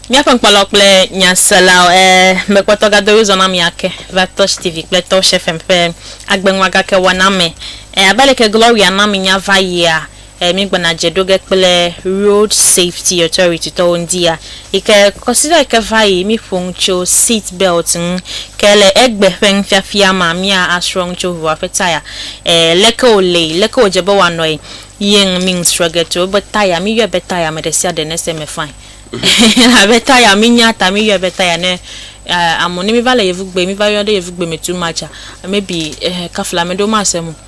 Míaƒe ŋkpɔlawo kple nyaselawo e mekpɔtɔ gado wi zɔna mi ake va Touch TV kple Touch FM ƒe agbenua gake wɔna me e abe leke Gloria na mi nya va yia e mi gbɔna dze ɖo ge kple Road Safety Authority tɔwo ŋdi ya Yi ke kɔsiɖa yi ke va yi, mí ƒo nu tso seat belt ŋu. Ke le egbe ƒe nufiafia mea, mía a srɔ nu tso ʋua ƒe taya. E, leke wo le yi? Leke wo dze be woa nɔ yi? Ye ŋu mí nu srɔ ge tso ebe taya, mí yɔe be taya, ame ɖesiaɖe ne se eme fine. Elabe taya, mí nya ta mí yɔe be taya ne, e, amɔ ne mí va le yevugbe, mí va yɔ ɖe yevugbe me too much a, maybe, e, kafla ame ɖewo ma se eme o.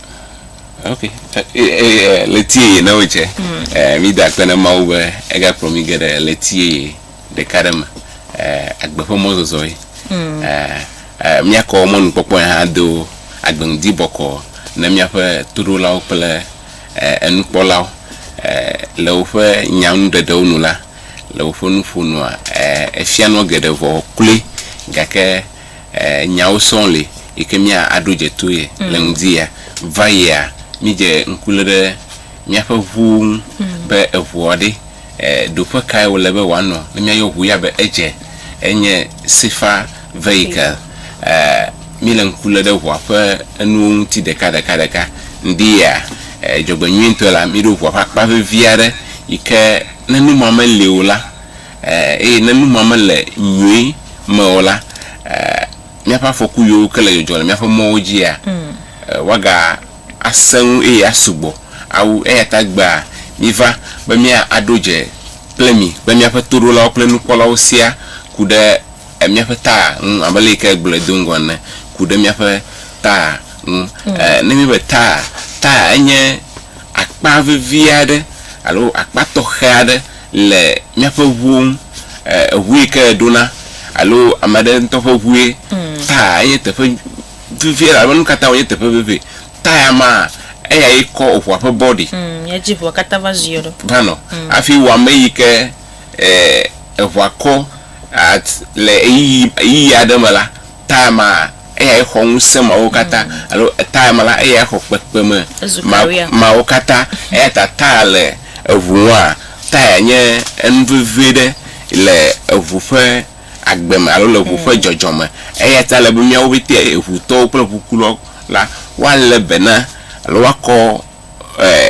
Ok, ɣleti yeye na wòdze. Mída akpe na Mawu be egakplɔ mí ge ɖe ɣleti yeye ɖeka ɖe me. Agbe ƒe mɔzɔzɔe. Míakɔ mɔnukpɔkpɔe hã ado agbe ŋdi bɔkɔ na míaƒe toɖolawo kple enukpɔlawo. Le woƒe nyanuɖeɖewo nu la, le woƒe nuƒonua, efia nua geɖe vɔ kloe gake Nyawo sɔŋ li yi ke mía a ɖo dze to ye le ŋdi ya. Va yi a mí dze ŋku le ɖe míaƒe ŋuwo ŋu be eŋua ɖe ɖoƒe kae wo le be woa nɔ ne mía yɔ ŋu ya be edze. Enye Safer Vehicle. Mí le ŋku le ɖe ŋua ƒe enuwo ŋuti ɖeka ɖeka ɖeka. Ŋdi ya dzɔgbe nyuie ŋutɔe la mí ɖo ŋua ƒe akpa vevi aɖe yi ke ne nu ma me li o la, Eye ne nu ma mele nyui me o la, míaƒe afɔku yiwo ke le dzɔdzɔ le míaƒe mɔwo dzia, woaga asẽ ŋu eye asu gbɔ awu. Eya ta egbea míva be mía aɖo dze kple mi kple míaƒe toɖolawo kple nukpɔlawo sia ku ɖe míaƒe ta ŋu abe leyike egblɔe do ŋgɔ ene, ku ɖe míaƒe ta ŋu. Ne míebe ta, ta enye akpa vevi aɖe alo akpa tɔxɛ aɖe. le míaƒe ŋuwo ŋu, eŋu yi ke eɖona alo ame aɖe ŋutɔ ƒe ŋue, taya enye teƒe vevie elabe nu ka ta wònye teƒe vevie? Taya maa, eyae kɔ eŋua ƒe bɔ ɖi. Eya dzi ŋua katã va ziɔ ɖo. Va nɔ. Hafi wɔ ame yi ke eŋua kɔ le ɣeyiɣi aɖe me la, Etime ma, eyae xɔ ŋusẽ mawo katã, alo etime la, eyae xɔ kpekpeme mawo katã. Eya ta tire le eŋu ŋua, tire nye enu vevi ɖe le eŋu ƒe agbe me alo le eŋu ƒe dzɔdzɔ me. Eya ta ele be míawo pɛtɛ eŋutɔwo kple eŋukulɔ la woalé be na alo woakɔ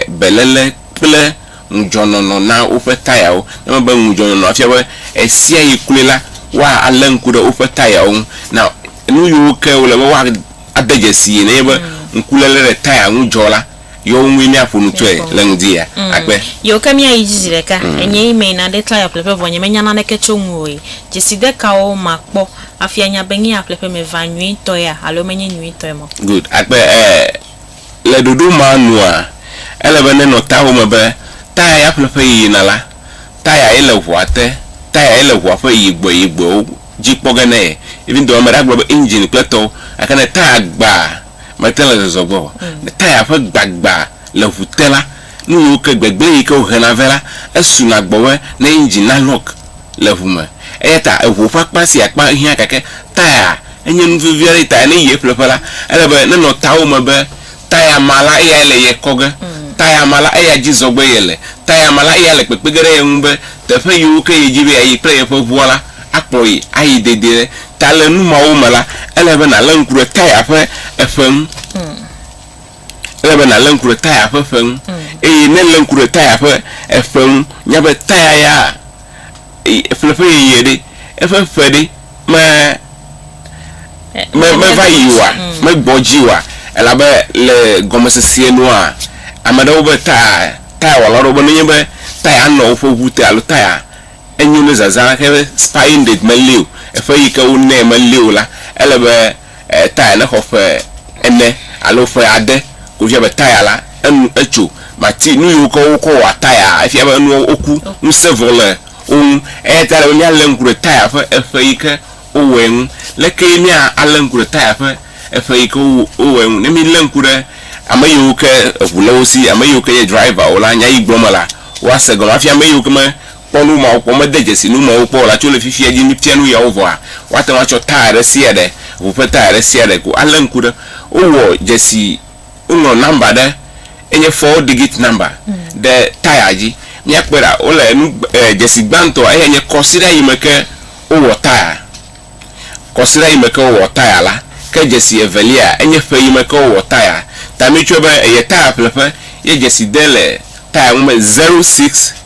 beléle kple ŋudzɔnɔnɔ na woƒe tayawo. Ne mebe ŋudzɔnɔnɔ afia be ɣesiaɣi kloe la, woalé ŋku ɖe woƒe tayawo ŋu. Na nu yiwo ke wòle be woade dzesie nenye be ŋkuléle ɖe taya ŋu dzɔ la, yewo ŋue míaƒo nu tsoe le ŋdi ya akpe. Yiwo ke míayi dzi zi ɖeka, enye yi mee naɖe taya ƒleƒe vɔ nyemenya naneke tso ŋu oe. Dzeside kawo makpɔ hafi anya be nye ya ƒleƒe me va nyuitɔea alo menye nyuitɔe mɔ? Good. Akpe, Ee, Le ɖoɖo ma nua, ele be nenɔ tawo me be, taya ya ƒleƒe yiyina la, taya ye le ʋua te, taya ye le ʋua ƒe yigbɔeyigbɔewo dzi kpɔ ge nɛ. Even though ame ɖe agblɔ be engine kple etɔwo, gake ne taya gba, mete le zɔzɔ gbe o. Ne taya ƒe gbagba le ʋu te la, nu yiwo ke, gbegblẽ yi ke wohena vɛ la, esuna gbɔwɛ ne engine na lock. le ŋu me. Eya ta eŋuwo ƒe akpa sia akpa hiã gake taya enye nu vevi aɖe ta ne yi ye ƒleƒe la, ele be nenɔ tawo me be taya ma la eyae le ye kɔ ge, taya ma la eya dzi zɔgbe ye le, taya ma la eya le kpekpe ge ɖe ye ŋu be teƒe yiwo ke ye dzi be yeayi kple yeƒe ŋua la akplɔ ye ayi dedie ɖe. Ta le nu mawo me la, ele be nàlé ŋku ɖe taya ƒe eƒe ŋu. Ele be nàlé ŋku ɖe taya ƒe ƒe ŋu. Eye ne èlé ŋku ɖe taya ƒe eƒe ŋu, nya be taya ya ƒle ƒe yeye ɖe, eƒe ƒe ɖe me me meva yi oa, megbɔ dzi oa, elabe le gɔmesese nua, ame aɖewo be taya tayawɔla aɖewo be nenye be taya nɔ woƒe ŋu te alo taya enyo ne zazã xe spine ɖe meli o, eƒe yi ke wonɛ meli o la, ele be. E Taya ne xɔ ƒe ene alo ƒe ade ko fia be taya la enu etso. Mati nu yiwo ke wokɔ wɔa tayaa efia be enuawo woku, ŋusẽ vɔ le wo ŋu. Eya ta ele be míalé ŋku ɖe taya ƒe eƒe yi ke wowɔe ŋu. Lekee mía alé ŋku ɖe taya ƒe eƒe yi ke wo wowɔe ŋu? Ne mílé ŋku ɖe ame yiwo ke eŋu le wo si, ame yiwo ke nye driver wo la, nya yi gblɔm mele, woase gɔme hafi ame yiwo ke me kpɔ nu mawo kpɔ, mede dzesi nu mawo kpɔ o la, tso le fifia dzi míefia nu yawo vɔa, woate ŋu atsɔ taya ɖe sia ɖe, ʋu ƒe taya ɖe sia ɖe ko alé ŋku ɖe. Wowɔ dzesi, woŋlɔ nɔmba ɖe, enye four digit nɔmba, ɖe taya dzi. Míakpɔe ɖa, wole enu, dzesi gbãtɔ eyae nye kɔsiɖa yi me ke wowɔ taya. Kɔsiɖa yi me ke wowɔ taya la. Ke dzesi evelia, enye ƒe yi me ke wowɔ taya. Ta míetsɔe be eye taya ƒleƒe ye dzesi de le taya ŋu be zero six.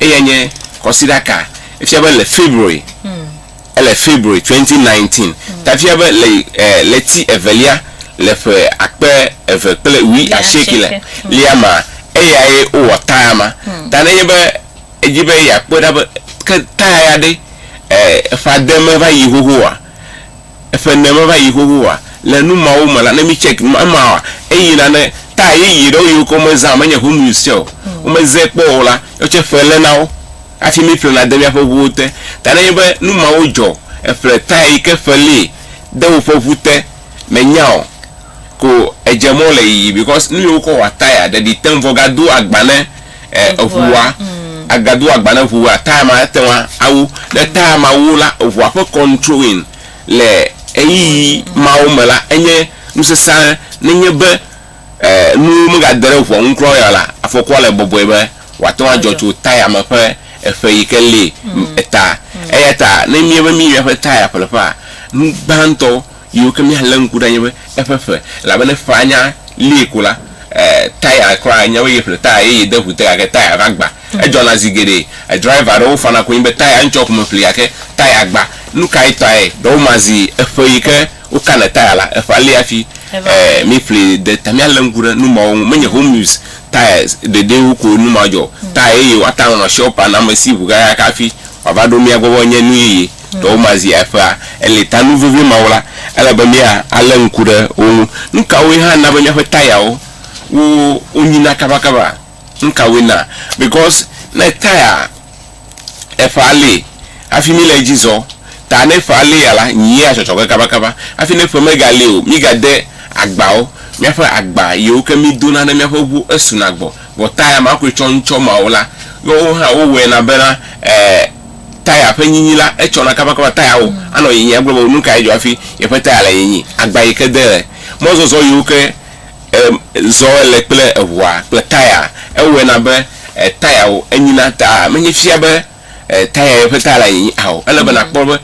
Eyae nye kɔsiɖa ka? Efia be le February, ele February 2019, tafia be le ɣleti evelia le ƒe akpe eve kple wui asieke le lia ma, eyae wowɔ taya ma. Ta nenye be edi be yeakpɔe ɖa be ke taya ya ɖe eƒe ade meva yi xoxo oa, Eƒe ne meva yi xoxo oa? Le nu mawo me la, ne mi check nu ema oa, eyi nane ta yeye ɖewo yiwo ke wo me zã menye home use tsɛ o, wo me zɛ kpɔ o la, yɔ tsɛ ƒe le nawo hafi mi ƒle na de miaƒe ŋuwo te. Ta ne nye be nu mawo dzɔ, eƒle ta yi ke ƒe li de woƒe ŋu te, me nya o, ko edze mɔ le yiyi because nu yiwo kɔ wɔa tire ɖeɖi teŋ vɔ ga do agba ne. eh, eʋua, mm. agado agba ne ʋua, taya ma ete ŋu awu. Ne taya ma wu la, eʋua ƒe controlling le ɣeyiɣi mawo me la, enye nusesã nenye be eh, nuwo megade ɖe ʋua ŋu kura ya la, afɔkua le bɔbɔe be wòate ŋu adzɔ tso taya me ƒe eƒe yi ke li mm. eta. Mm. Eya ta ne míebe míeƒe taya ƒleƒea, nu gbãtɔ Yiwo ke míalé ŋku ɖe anye be eƒe ƒe, elabene ƒea nya lie ko la, eh, taya kura anya be yeƒle taya yeye de ŋu te gake taya va gba. Edzɔna zi geɖe. Driver aɖewo fana konyi be taya ŋtsɔ ƒome ƒli gake taya gba. Nukae tae? Ɖe woma zi eƒe yi ke wokana taya la, eƒea li hafi eh, míeƒli de ta. Míalé ŋku ɖe nu mawo ŋu. Menye home use tires ɖeɖee wu koe nu ma dzɔ o. Taya yeye woate ŋu anɔ shop anɔ amesi ŋu kakaka hafi wòava ɖo mía gbɔ be enye nu yeye. Dɔwòma zi eƒea, eli ta nu vevie mawo la, ele be mía alé ŋku ɖe wo ŋu. Nukawoe hã na be míaƒe tayawo wo wonyina kabakaba? Nukawoe na? Because ne taya eƒe ali hafi míle edzi zɔ, ta ne eƒe alia la, nyia tsɔtsɔ ge kabakaba. Hafi ne eƒe mega li o, míga de agbawo, míaƒe agba yiwo ke mí dona ne míaƒe ŋu esuna gbɔ. Vɔ taya ma koe tsɔ ŋtsɔ mawo la, woawo hã wo wɔe na bena eh taya ƒe nyinyi la, etsɔna kabakaba tayawo anɔ nyinyi agblɔ be nu kae dzɔ hafi yeƒe taya le nyinyi. Agba yi ke de le mɔzɔzɔ yiwo ke zɔ ele kple eŋua kple taya ewɔe na be tayawo enyina ta menye fia be taya yeƒe taya le nyinyi ao. Ele be nakpɔ be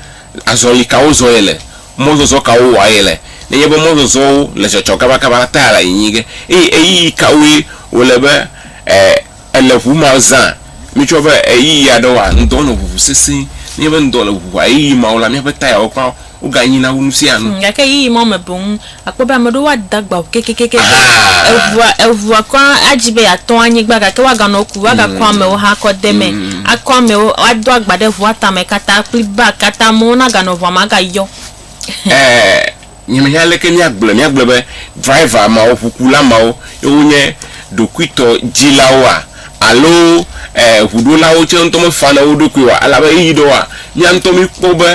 azɔli kawo zɔ yele, mɔzɔzɔ kawo wɔa yele. Nenye be mɔzɔzɔwo le dzɔdzɔ kabakaba la, taya le nyinyi ge eye ɣeyiɣi kawoe wòle be e. Ele ŋu ma zã mitsɔ be ɣeyiɣi aɖe wɔa ŋdɔ nɔ ʋuʋu sesẽ. Nenye be ŋdɔ le ʋuʋua ɣeyiɣi mawo la, míaƒe tayawo kura woganyina wu nusianu. Gake ɣeyiɣi mawo me boŋ akpɔ be ame aɖewo woada agba ŋu kekekekeake. Eŋua, eŋua kura adzi be yeatɔ anyigba gake woaganɔ ku woagakɔ amewo hã akɔ de eme. Akɔ amewo, woado agba ɖe ŋua tame katã kple bagi katã. Amewo naganɔ ŋua me agayɔ. Nye me nya aleke mía gblɔe, mía gblɔe be driver mawo, ʋukula mawo ye wo nye ɖokuitɔ dzilawoa? Alo ʋuɖolawo tsɛ ŋutɔ me fana wo ɖokui oa? Elabe ɣeyiɣi ɖe woa, mía ŋutɔ mí kpɔ be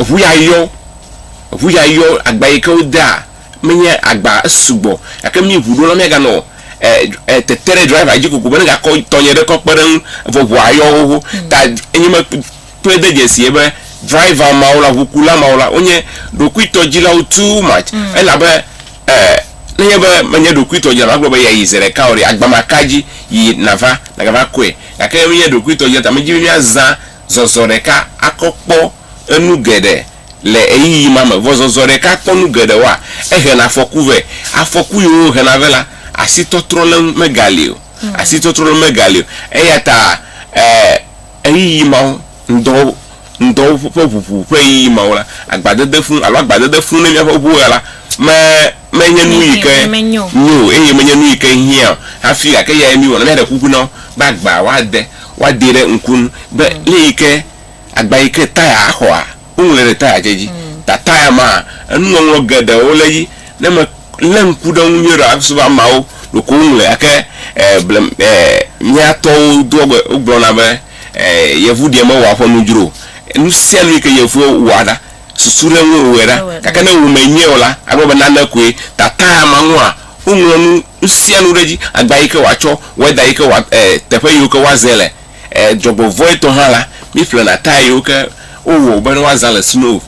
eʋu ya yɔ, eʋu ya yɔ, agba yike wo dea me nye agba esugbɔ gake mí ʋuɖolawo mía ga nɔ tete ɖe driver dzi kokoko be ne ga kɔ tɔnye ɖe kɔ kpeɖe eŋu vɔ ʋua yɔ xoxo ta enye me. kpɔe de dzesie be driver mawo la, ʋukula mawo la, wonye ɖokuitɔdzilawo too much. Mm. Elabe eh, nenye be menye ɖokuitɔdzila, magblɔ be yeayi ze ɖeka o ɖe, agba maka dzi yi nava, nagava kɔe. Gake ne menye ɖokuitɔdzila ta, medi be míazã zɔzɔ ɖeka akɔ kpɔ enu geɖe le ɣeyiɣi ma me. Vɔ zɔzɔ ɖeka kpɔ nu geɖewoa, ehena afɔku vɛ. Afɔku yiwo wohena vɛ la, asitɔtrɔ le eŋu megali o. Mm. Asitɔtrɔ le eŋu megali o. Eyata eh, Ɣeyiɣi mawo, ŋdɔ, ŋdɔ ƒe ʋuʋu ƒe ɣeyiɣi mawo la, agbadedefu alo agbadedefu ne míaƒe ʋuɣe la me, menye nu yi ke nyo o eye menye nu yi ke hiã o hafi, gake eyae míewɔ. Ne míaɖe kuku na wo be agbaa woade, woadee ɖe ŋku nu be lé yi ke, agba yi ke taya axɔa, Woŋlɔe ɖe taya tsɛ dzi. Ta taya ma, enuŋɔŋlɔ geɖewo le edzi. Ne me lé ŋku ɖe eŋu nyuie ɖe asusu be ameawo ɖeko woŋlɔe gake e ble e mía tɔwo doa gbe wogblɔna be e yevu ɖee mewɔa ƒɔnu dzro o. Nu sia nu yi ke yevuwo wɔa ɖa, susu ɖe eŋue wɔe ɖa. Gake ne wò mee nye o la, agblɔ be nane koe. Ta taya ma ŋua, woŋlɔ nu nu sia nu ɖe edzi. Agba yi ke wòatsɔ, wɛda yi ke wòa e teƒe yiwo ke woazẽ le. Dzɔgbevɔ̃e tɔ hã la, míƒlena tayayiwo ke wowɔ wòbe ne woazã le snow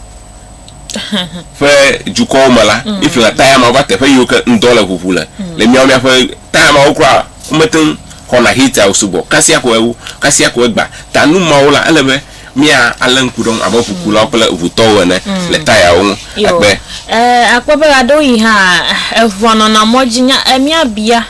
ƒe dukɔwo me la, míƒlena taya mawo va teƒe yiwo ke ŋdɔ le ʋuʋu le. Le míawo míaƒe taya mawo kura womete ŋu xɔna heater o sugbɔ kasia ko ewo kasia ko egba ta. Nu mawo la, ele be míalé ŋku ɖe eŋu abe ʋukulawo kple ʋutɔwo ene le tayawo ŋu. Akpe. Akpɔ be ɣeaɖewoɣi hã eŋua nɔna mɔ dzi nya míabia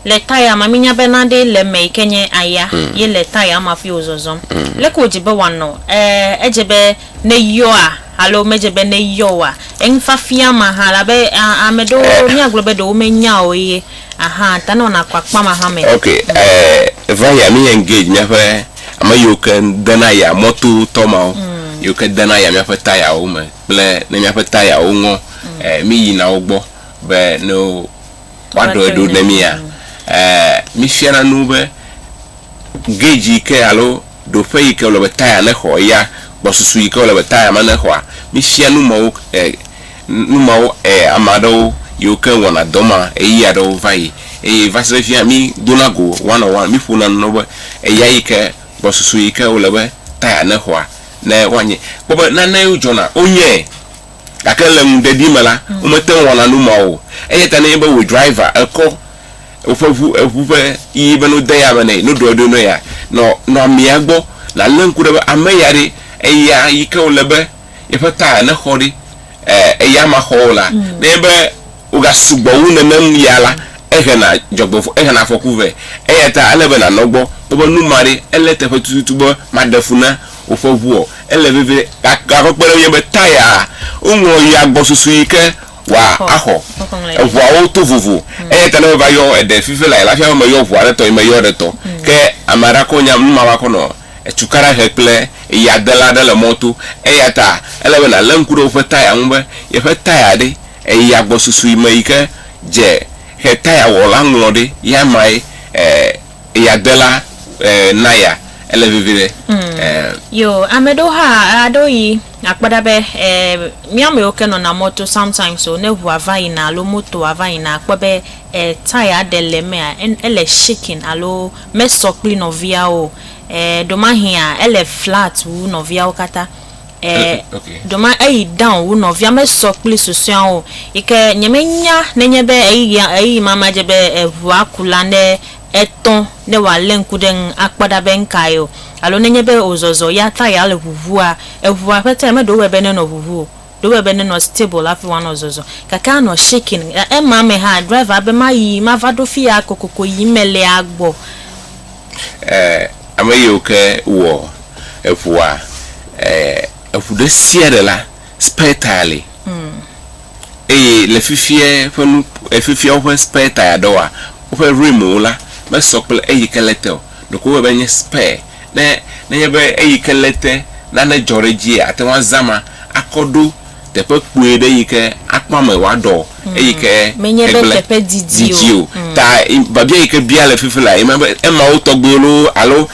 Le taya ma, mínya be naɖee le eme yi ke nye aya ye le taya ma hafi wòzɔzɔm. Leke wòdze be wòanɔ? Ɛɛ, edze be neyɔa alo medze be neyɔ oa? Enufiafia ma hã la be a, ame ɖewo míagblɔ be ɖe womenya o ye ahã ta nɔna akpakpam ahã me. Ok, ɛɛ, va ya mí engage míaƒe ame yiwo ke dena aya mɔtotɔ mawo yiwo ke dena aya míaƒe tayawo me kple ne míaƒe tayawo ŋɔ ɛɛ, míyina wo gbɔ be ne wo. woaɖɔe ɖo ne mía? Ɛɛ, mífiana nu be geji yi ke alo ɖoƒe yi ke wòle be taya nexɔ eya, gbɔsusu yi ke wòle be taya ma nexɔa, mífia nu mawo ɛɛ, nu mawo ɛɛ, ame aɖewo yiwo ke wɔna dɔ ma ɣeyiɣi aɖewo va yi. Eye va se ɖe fifia mídona go one on one, míƒona nu na wo be eya yi ke, gbɔsusu yi ke wòle be taya nexɔa, ne woanye. Kpɔ be nanewo dzɔna, wonyae. Gake le ŋuɖeɖi me la, womete ŋu wɔna nu ma o. Eya ta nenye be wò driver kɔ woƒe ŋu, eŋu ƒe ɣi be no de ya me nɛ, no ɖɔe ɖo ne ya, nɔ, nɔ amea gbɔ. Nàle ŋku ɖe be ame ya ɖe, eya yike wòle be yeƒe tyre nexɔ ɖe, e, eya maxɔ o la. Nenye be. wogasu gbɔ wu nenem ya la, ehena dzɔgbevɔ̃e, ehena afɔku vɛ. Eya ta ele be nànɔ egbɔ. Woƒe nu ma ɖe, ele teƒe tututu be maɖe fu na woƒe ʋu ɔ? Ele vevie. Gake kpe ɖe ŋunye be Taya-a, woŋlɔ ya gbɔ susu yi ke wòa axɔ. Eʋuawo to vovo. Eya ta ne meva yɔ eɖe fifi lae, lafiã be meyɔ ʋua ɖe tɔ ye meyɔ ɖe tɔ. Ke ame aɖe akɔ nya nu ma va kɔ nɔ etukaɖa he kple eyadela aɖe le mɔto. Eya ta ele be nàlé ŋku ɖe woƒe Taya ŋu be yeƒe Taya ɖe. Eyi agbɔsusui me yi ke dze xetaya wɔ la ŋlɔ ɖe ya mae eya dela na ya ele vivi ɖe eh. Yo ame ɖewo hã aɖo yi akpɔ ɖa be eh mía mewo ke nɔna mɔto sometimes o ne ŋua va yina alo motoa va yina akpɔ be eh taya ɖe le emea ele shaking alo mesɔ kpli nɔviawo o eh ɖomahia ele flat wu nɔviawo katã. Eh, okay. Doma eyi down wu nɔvia me sɔ kpli susɔeawo yi ke nye me nya ne nye be eyi ya eyi ma ma je be eʋua ku la ne etɔ ne wa le ŋku ɖe ŋu akpɔ ɖa be ŋka yo alo ne nye be o zɔzɔ ya ta ya le ʋuʋua eʋua ƒe ta ya me ɖo wɔ be ne nɔ ʋuʋu o ɖo wɔ be ne nɔ stable la fi wa nɔ zɔzɔ gake a nɔ shaking ema me ha driver be ma yi ma va ɖo fi ya kokoko yi me le agbɔ e, ame yiwo ke wɔ eŋua, e, eŋu ɖe sia ɖe la, spare tire li. Mm. Eye le fifia ƒe nu, e, fifia woƒe spare tire dɔwoa, woƒe rimwo la mesɔ kple eyi ke le te o. Ɖeko wowɔe be nye spare. Ne, nenye be eyi ke le te, nane dzɔ ɖe edzia, ate ŋu azã ma akɔ ɖo. Teƒe kpui ɖe yi ke akpɔ ame wòaɖɔ eyi ke hegble didi o. Ta biabia yi ke bia le fifi laa, enye be emawo tɔgbuiwo loo alo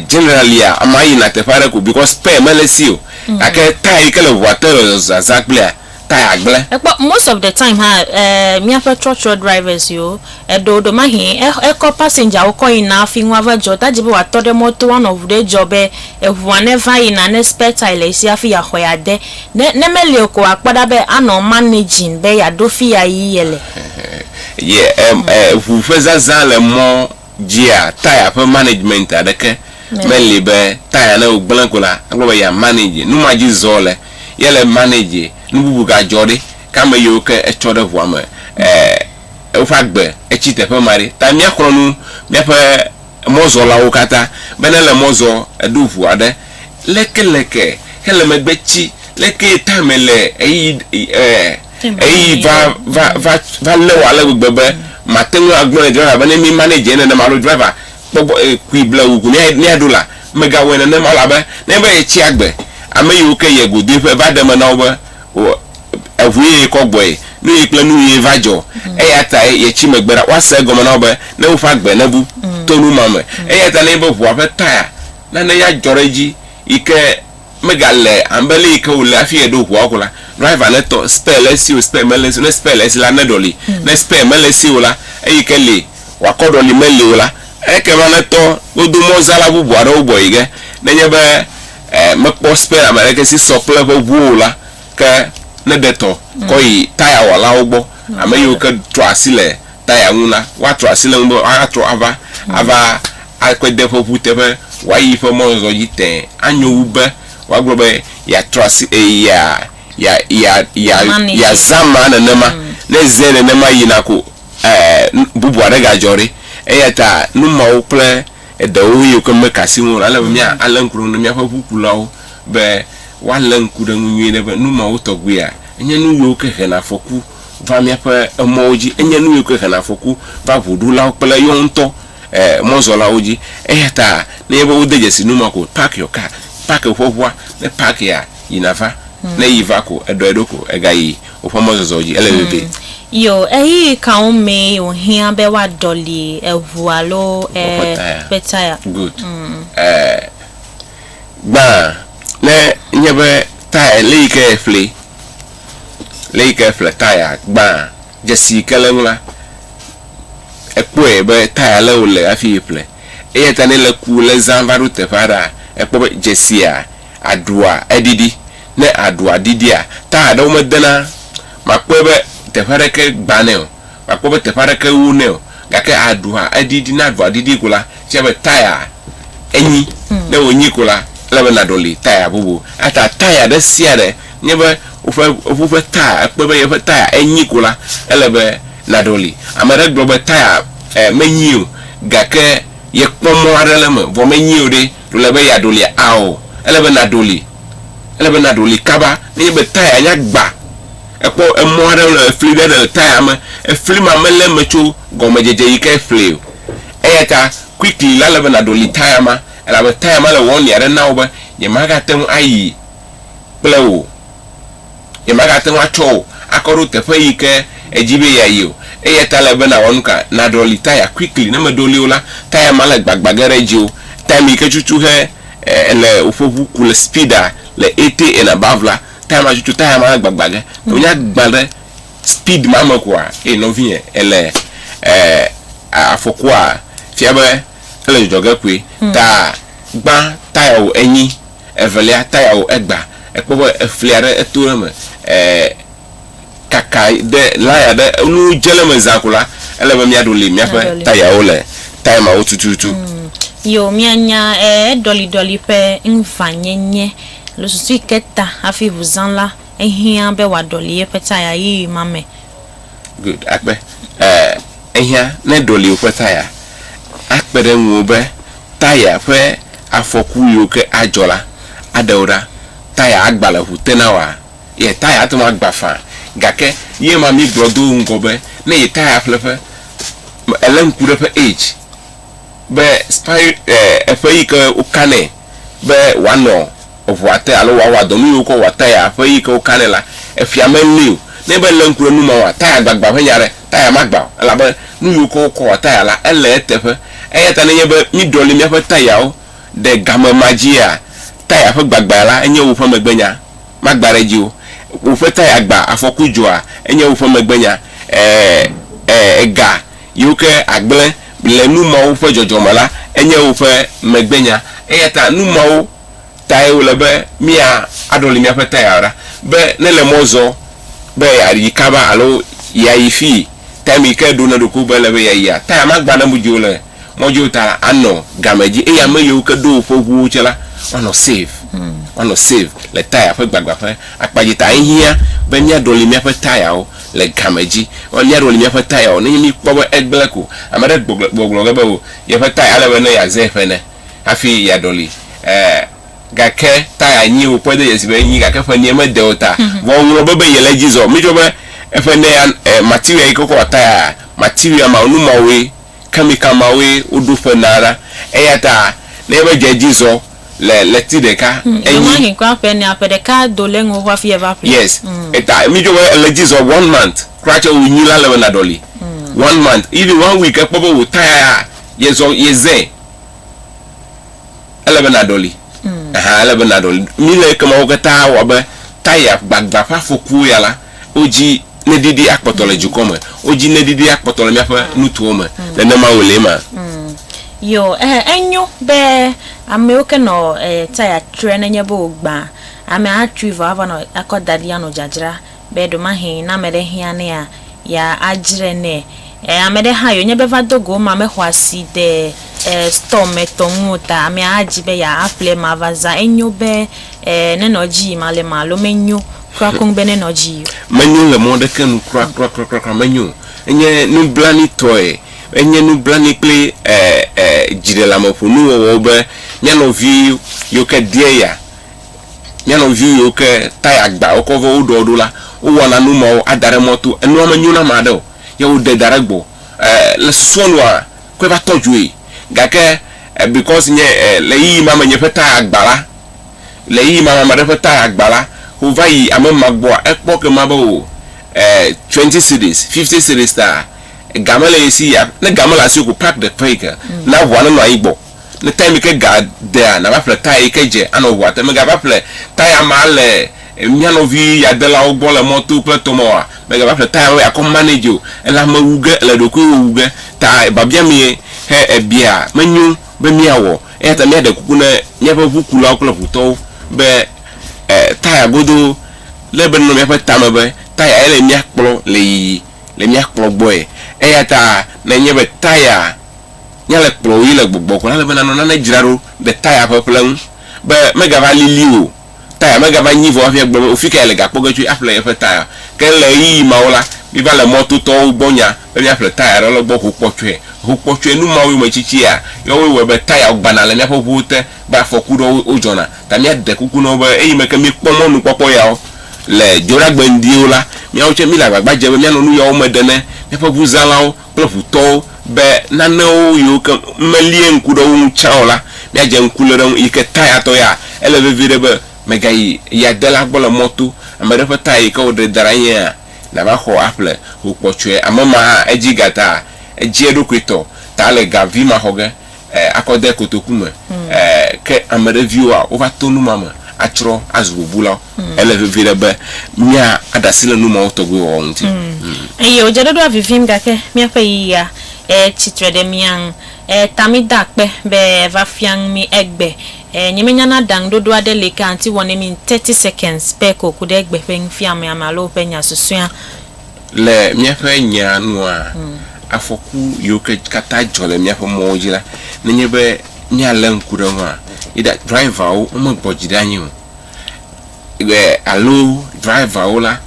generallia, amea yina teƒe aɖe ko because spare mele esi o. Gake taya yi ke le ŋua te le zazã kplia, taya gblẽ. Èkpɔ most of the time hã, eh, míaƒe trɔtrɔ drivers yewo, Eɖo ɖomahi ekɔ pasɛndzawo kɔ yina afi ŋua va dzɔ ta dzi be wòatɔ ɖe mɔto woanɔ ŋu ɖe dzɔ be eŋua neva yina ne spare tire le esi hafi yeaxɔe ade. Ne ne meli o ko wòakpɔ ɖa be anɔ managing be yeaɖo fi ya yi yele. Ye em eŋu ƒe zazã le mɔ dzia tire ƒe management aɖeke meli be tire ne wogblẽ ko la akpɔ be ya manage nu ma dzi zɔ le yele manage nu bubu gadzɔ ɖi ke ame yiwo ke etsɔ ɖe ŋua me e. woƒe agbe etsi teƒe ma ɖi. Ta míaxlɔ̃ nu míaƒe mɔzɔlawo katã be ne le mɔ zɔ eɖo ʋu aɖe lekeleke hele megbe tsi lekee tame le ɣeyiɣi e ɣeyiɣi va va va va lé wò ale gbegbe be màte ŋu agblɔ ne driver be ne mi manage nenema alo driver kpɔ gbɔ e kui ble wò ŋu ne míaɖo la megawɔe nenema o elabe nenye be etsi agbe ame yiwo ke yie godoe ƒe va ɖe eme na wo be o eŋue yekɔ gbɔe, nu ɣi kple nu ɣie va dzɔ, eyatae yetsi megbe ɖa. Woase egɔme na wo be, ne woƒe agbe nebu to nu ma me. Eyata nenye be ʋua ƒe taya nane ya dzɔ ɖe edzi yike megale abe le yike wòle hafi yeɖo ʋua ko la, driver netɔ spare le esi o, spare mele esi o, ne spare le esi la, neɖɔli, ne spare mele esi o la, eyike li wòakɔ ɖɔli meli o la, ekema netɔ godo mɔzãla bubu aɖewo gbɔ yi ge. Nenye be mekpɔ spare ameɖeke si sɔ kple eƒe ʋuwo o la, Ke ne ɖe tɔ kɔ yi tayawɔlawo gbɔ, ame yiwo ke trɔa asi le taya ŋu la, woatrɔ asi le eŋu be atrɔ ava ava eƒe de ƒe ŋu teƒe wòayi eƒe mɔzɔzɔ dzi tẽ. Anyo wu be woagblɔ be yeatrɔ asi e yea yea yea yea yeazã amea nenema. Ne ezãe nenema yina ko e nu bubu aɖe gadzɔ ɖi. Eya ta nu mawo kple eɖewo yiwo ke meka asi ŋu o la, ele be míalé ŋku ɖe wo ŋu ne míaƒe ŋukulawo be, woalé ŋku ɖe eŋu nyuie ɖe be nu mawo tɔgbuia, enye nu yiwo ke hena afɔku va míaƒe emɔwo dzi. Enye nu yiwo ke hena afɔku va ŋuɖulawo kple yewo ŋutɔ mɔzɔlawo dzi. Eya ta nenye be wode dzesi nu ma ko, park your car, park woƒe ŋua. Ne park ya, yi nàva. Ne yi va ko, eɖɔe ɖo ko egayi woƒe mɔzɔzɔ dzi. Ele vevie. Yo, ɣeyiɣi kawo mee wòhiã be woaɖɔli eŋu alo eƒe taya? Good. Gbã ne nye be taya le yike eƒle le yike eƒle taya gbã dzesi yike le eŋu la ekpɔe be taya le wole afi yi ƒle eyata ne le ku le zã va ɖo teƒe aɖea ekpɔ be dzesia aɖua eɖiɖi ne aɖua ɖiɖia taya ɖewo me dena makpɔe be teƒe aɖeke gbanɛ o. Màkpɔ be teƒe aɖeke ŋu wonɛ o. Gake aɖu hã, edidi, ne aɖua didi ko la, fia be taya enyi. Ne wònyi ko la, ele be nàɖɔli taya bubu. Eya ta taya ɖe sia ɖe nye be woƒe, eŋu ƒe taya, ekpɔe be yeƒe taya enyi ko la, ele be nàɖɔli. Ame aɖe gblɔ be taya ɛɛ menyi o gake yekpɔ mɔ̃ aɖe le eme vɔ menyi o ɖe, ɖo ele be yeaɖɔlia? Ao, ele be nàɖɔli. Ele be nàɖɔli kaba. Ne enye be taya nya gba. Ekpɔ emɔ aɖe wonɔ efli ɖe le taya me. Efli ma melé eme tso gɔmedzedze yi ke efli o. Eya ta quickly la ele be nàɖoli taya ma elabe taya ma le warning aɖe na wò be yemagate ŋu ayi kple wò o. Yemagate ŋu atsɔ wò akɔ ɖo teƒe yi ke èdi be yeayi o. Eya ta ele be nàwɔ nu ka? Nàɖɔli taya quickly. Ne mèɖoli o la, taya ma le gbagba ge ɖe dziwò. Time yi ke tutu he èle woƒe ŋu ku le speed le eighty and above la, ta ma tutu ta ma gbagba ge to nya gba ɖe speed ma me kua e no vie ele eh afɔkua fia be ele jɔjɔ ge koe hmm. ta gba ta ya o enyi evelia ta ya o egba ekpɔ be eflia ɖe eto ɖe me eh kaka ɖe laya ɖe nu dze le me zã ko la, ele be míaɖo li míaƒe Aɖɔli. tayawo le taya mawo tututu. Yo, mianya ɛ eɖɔliɖɔli ƒe ŋvanyenye alo susu yi ke ta hafi ŋu zã la, ehiã be wòaɖɔli yeƒe taya ʋee ma me. Good, akpe. Ɛ ehiã ne eɖɔli woƒe taya, akpe ɖe ŋuwò be taya ƒe afɔku yiwo ke adzɔ la, aɖe wò ɖa. Taya agba le ŋu te na wòa? Yetaya ate ŋu agbã faa. Gake ye ma míegblɔ do ŋgɔ be ne Yetaya ƒle ƒe, elé ŋku ɖe eƒe age be spire e eƒe yi ke woka nɛ be wòanɔ eŋua te alo wòawɔ dɔ nu yiwo wokɔ wɔa taya ƒe yi ke woka nɛ la, efia melée o. Ne enye be elé ŋku ɖe nu mawoa, taya gbagbã ƒe nya aɖe, taya magbã o elabe nu yiwo ke wokɔ wɔa taya la, ele eteƒe. Eya ta ne enye be míɖɔli míaƒe tayawo ɖe game ma dzia, taya ƒe gbagbãe la enye woƒe megbenya. magba ɖe edzi o. Woƒe taya agba, afɔku dzɔa, enye woƒe megbenya. Ee, ega yiwo ke agblẽ le nu mawo ƒe dzɔdzɔ me la, enye woƒe megbenya. Eya ta nu mawo tae wòle be míaɖɔli míaƒe taya ɖa be ne le mɔ zɔm be yeayi kaba alo yeayi fii, time yi ke ɖo na eɖokui be ele be yeayia, taya magba ɖe edzi o le mɔdzi ta la anɔ game dzi eye ame yiwo ke ɖo woƒe ʋuwo dzi la woanɔ save woanɔ save le taya ƒe gbagba ƒe akpa dzi ta ehiã be míaɖɔli míaƒe tayawo le game dzi ɔ míaɖɔli míaƒe tayawo nenye míkpɔ be egblẽ ko ame aɖe gbɔgblɔ gbɔgblɔ ge be o yeƒe taya ele be ne yeazɛ ƒe ene hafi yeaɖɔli e gake taya nyi wokpɔe do dzesi be enyi gake ƒe ene mede o ta vɔ woŋlɔ be be yele edzi zɔ mídzɔ be eƒe ene ya e material yi ke wokɔ wɔ tayaa material ma nu mawoe kamika mawoe woɖo ƒe na ɖa. Eyata ne ebe dze edzi zɔ le ɣleti ɖeka enyi. Ɣemaɣi kura ƒe enea, ƒe ɖeka do le eŋu hafi yeva ƒle. Yes. Eta mi dzo be ele edzi zɔ one month kura tse wo nyi la le be na ɖɔli. One month, even one week ekpɔ be wo tire a, ye zɔ ye zɛ. ele be nàɖɔli. Aha, ele be nàɖɔli. Mi le ekemawo katã wɔ be taya gbagbã ƒe afɔkuwo ya la, wodzi neɖiɖi akpɔtɔ le dukɔ me. Wodzi neɖiɖi akpɔtɔ le míaƒe nutowo me. Nenemae lee ma? Yo, ɛɛ, enyo be amɛwo ke nɔ taya trɔɛ nenye be wògbã, amɛ atsui vɔ ava nɔ akɔ daɖi anɔ dzadzra. be ɖemahe ne ame ɖe hiã nɛa, ya adzre nɛ. E ame ɖe hã yonye be va do go ema mexɔ asi ɖe e store me tɔ ŋu o ta amea adzi be ya aƒle ema va zã. Enyo be e ne nɔ dzi yim ale ma alo menyo kura koŋ be ne nɔ dzi yi o? Menyo le mɔ ɖeke nu kura kura kura kura kura menyo o. Enye nublanui tɔe. Enye nublanui kple e e dziɖeleameƒonu wɔwɔ be mía nɔvi yiwo ke deɛ ya. Mía nɔviwo yiwo ke taya agba wokɔ vɔ woɖɔ ɖo la, wowɔna nu mawo ada ɖe mɔ to. Enua menyo na ame aɖe o ye woɖe da ɖe egbɔ. E, le susua nua, kɔe va tɔ dzoe. Gake e because nye e le ɣeyiɣi ma me nye ƒe taya agba la, le ɣeyiɣi ma me ame aɖe ƒe taya agba la, ko va yi ame ma gbɔa, ekpɔ ke ma be o e twenty cedis, fifty cedis ta ga mele ye si ya. Ne ga mele asiwò ko pack the page na ʋua nenɔ anyi gbɔ. Ne taya mi ke ga dea, nava ƒle taya yi ke dze anɔ ʋua te. Mègava ƒle taya ma le mía nɔvi yadelawo gbɔ le mɔto kple tɔ me oa? Mègava ƒle taya wo yeakɔ manage o, elabme wu ge èle ɖokuiwò wu ge ta biabia mie he èbia menyo be míawɔ. Eya ta míaɖe kuku ne míaƒe ʋukulawo kple ʋutɔwo be e taya godoo le be nɔ míaƒe tame be taya ye le mía kplɔ le yiyi le mía kplɔ gbɔe. Eya ta ne enye be taya. nya le kplɔ wò yí le gbɔgbɔ ko la, ele be nànɔ nane dzra ɖo ɖe taya ƒe ƒle ŋu be megava lili o, taya megava nyi vɔ hafi agblɔ be, O fi kae le gakpɔ ge tsoe aƒle yeƒe taya? Ke le ɣeyiɣi mawo la, míva le mɔ to tɔwo gbɔ nya be míaƒle taya aɖe le gbɔ ho kpɔtsɔe. Ho kpɔtsɔe nu mawo yome tsitsia, yɔ woe wɔe be tayawo gbana le míaƒe ŋuwo te be afɔku ɖewo wodzɔna. Ta míade kuku na wo be eyime ke míekpɔ mɔnukpɔkpɔ yawo le dzoɖagbe ŋdiwo la, míawo tsɛ míle agbagba dze be míanɔ nu yawo me ɖe ne míaƒe ŋuzãlawo. kple ŋu tɔwo be nanewo yiwo ke melie ŋku ɖe wo ŋu tsã o la, míadze ŋku le ɖe eŋu. Yi ke taya tɔ ya, ele vevi ɖe be mègayi yadela gbɔ le mɔ to. Ame ɖe ƒe taya yi ke wòɖe da ɖe anyi ya, nàva xɔ aƒle ho kpɔtsoe. Ame ma hã, edzi ga ta, edzi eɖokui tɔ ta le ga vi ma xɔ ge. eh, akɔ de kotoku me, hmm. eh, ke ame ɖe viwoa wova to numa me atsrɔ azu bubulawo. Hmm. Ele vevi ɖe be mía aɖasi le numawo tɔgbe wɔwɔ ŋuti. Hmm. Eye wodze ɖoɖoa vivim gake míaƒe yiyia eh, tsitre ɖe mía ŋu. Eh, ta mi da akpe be va fia ŋu mi egbe. Eh, nye menya na ɖaŋu ɖoɖo aɖe li ke anti wɔ ne mi in 30 seconds be ko ku ɖe egbe ƒe nufiamea me alo woƒe nya susɔea. Le míaƒe nyaa nua, afɔku yiwo ke katã dzɔ le míaƒe mɔwo dzi la, nenye be míalé ŋku ɖe eŋua, either driverwo womegbɔ dzi ɖe anyi o e, alo driverwo la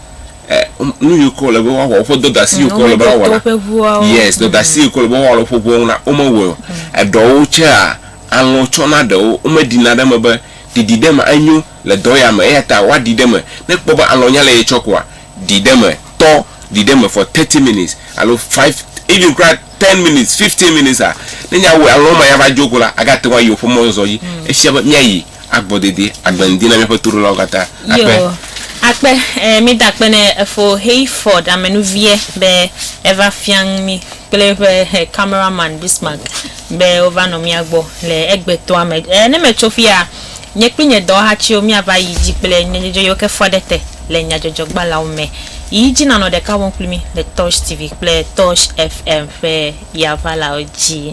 e, wom- nu yiwo ke wòle be woawɔ, woƒe dɔdeasi yiwo ke wòle be woawɔ la, Womeɖo to woƒe ʋuawo. yes, dɔdeasi yiwo ke wòle be woawɔ le woƒe ʋuawo ŋu la, womewɔe o. Eɖewo tsea, alɔ̃ tsɔna ɖewo, womeɖina ɖe eme be ɖiɖi ɖe eme enyo le dɔ ya me, eya ta woaɖi ɖe eme. Ne ekpɔ be alɔ̃ nya le ye tsɔ koa, ɖi ɖe eme, tɔ ɖi ɖe eme for thirty minutes alo five even kura ten minutes, fifteen minutes a, ne nya wɔ alɔ̃ ma ya va dzo ko la, aga te ŋu ayi woƒe mɔzɔzɔ dzi. Efia be mía yi agbɔ dede, agbe ŋdi na míaƒe toɖolawo katã. Akpe. Yo, akpe. Ɛɛ, mi da akpe ne Efo Hayford amenuviɛ be eva fiaŋ mi kple eƒe camera man Bismarck be wova nɔ mía gbɔ le egbetɔa me. Ɛɛ, ne me tso fiya, nye kpli nye dɔwɔhatsiwo mía va yi dzi kple nye dzodzo yo ke fɔ ɖe te. le nyadzɔdzɔgbalẽawo me yi dzi nanɔ ɖeka wɔm kpli mí le Torch TV kple Torch FM ƒe Yavalawo dzi.